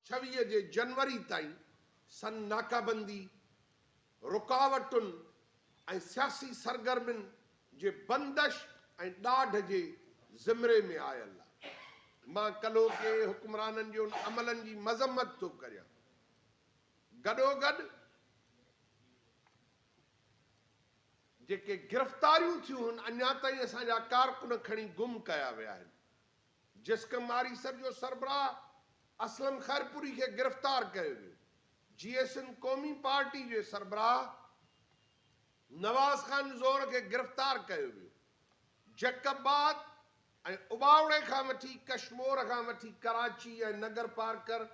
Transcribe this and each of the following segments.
ڇويهه جي جنوري تائين سن ناڪابندي، رڪاوٽن ۽ سياسي سرگرمين جي بندش ۽ ڏاڍ جي زمري ۾ آيل آ. مان ڪلهوڪي حڪمرانن جي ان عملن جي مذمت ٿو ڪريان. گڏوگڏ جيڪي گرفتاريون ٿيون هن اڃا تائين اسان جا ڪارڪن کڻي گم ڪيا ويا آهن. جسقم آريسر جو سربراهه اسلم خيرپوري کي گرفتار ڪيو ويو، جيئي سنڌ قومي پارٽي جي سربراهه نواز خان زور کي گرفتار ڪيو ويو، جڪب آباد ۽ اٻاوڙي کان وٺي ڪشمور کان وٺي ڪراچي ۽ نگرپارڪر،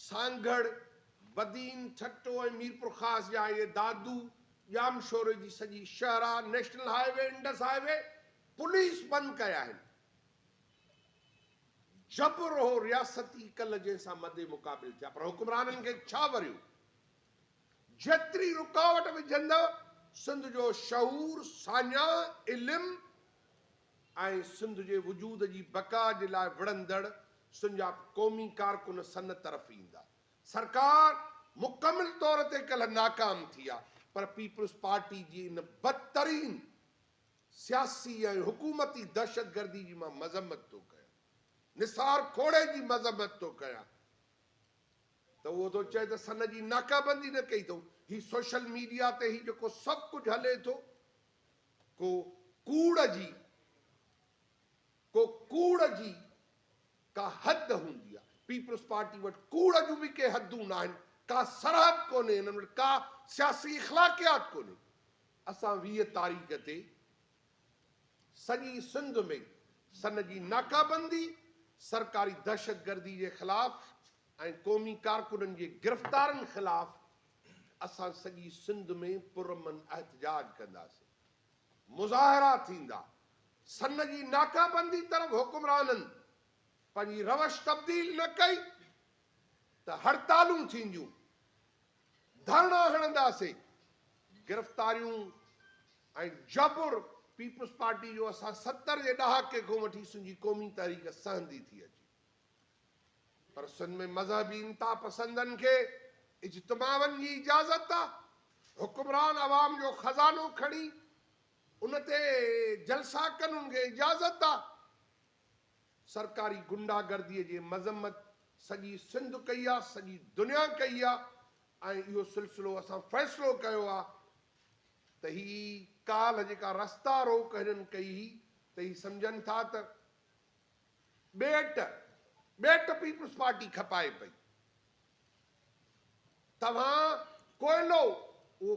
سانگهڙ، بدين، ٺٽو ۽ ميرپورخاص جا اهي دادو ڄامشوري جي سڄي شهرا، national highway, Indus highway police بند ڪيا آهن. جبر هو رياستي ڪل جنهن سان مد مقابل ٿيا پر حڪمرانن کي ڇا وريو جيتري رڪاوٽ وجهندا سنڌ جو شعور ساڃاهه علم ۽ سنڌ جي وجود جي بقا جي لاء وڙهندڙ سنجا قومي ڪارڪن سن طرف ايندا سرڪار مڪمل طور تي ڪل ناڪام ٿي آ پر پيپلز پارٽي جي ان بدترين سياسي ۽ حڪومتي دهشتگردي جي مان مذمت ٿو ڪيان، نثار کوڙي جي مذمت ٿو ڪيان ته اهو ٿو چئي ته سن جي ناڪابندي نه ڪئي اٿئون. هي سوشل ميڊيا تي هي جيڪو سڀ ڪجهه هلي ٿو ڪو ڪوڙ جي ڪو ڪوڙ جي ڪا حد هوندي آهي. پيپلز پارٽي وٽ ڪوڙ جون به ڪي حدون آهن، ڪا سرحد ڪونهي، هنن وٽ ڪا سياسي اخلاقيات ڪونهي. اسان ويهه تاريخ تي سڄي سنڌ ۾ سن جي ناڪابندي، سرڪاري دهشتگردي جي خلاف ۽ قومي ڪارڪنن جي گرفتارن خلاف اسان سڄي سنڌ ۾ پرامن احتجاج ڪنداسين، مظاهرا ٿيندا، سن جي ناڪابندي طرف حڪمرانن پنهنجي روش تبديل نه ڪئي ته هڙتالون ٿينديون. ڌرڻا هڻنداسين، گرفتاريون ۽ جبر پيپلز پارٽي جو اسان ستر جي ڏهاڪي کان وٺي سنڌ جي قومي تحريڪ سهندي ٿي اچي پر سنڌ ۾ مذهبي انتها پسندن کي اجتماعن جي اجازت آ حڪمران عوام جو خزانو کڻي ان تي جلسا ڪن ان کي اجازت آ سرڪاري غنڊا گردي جي مذمت سڄي سنڌ ڪئي آ سڄي دنيا ڪئي آ ۽ اهو سلسلو اسان فيصلو ڪيو آ ته هي ڪالهه جيڪا رستا روڪ هنن ڪئي هئي ته هي سمجهن ٿا ته ٻيٽ ٻيٽ پيپلز پارٽي کپائي پئي توهان ڪوئلو اهو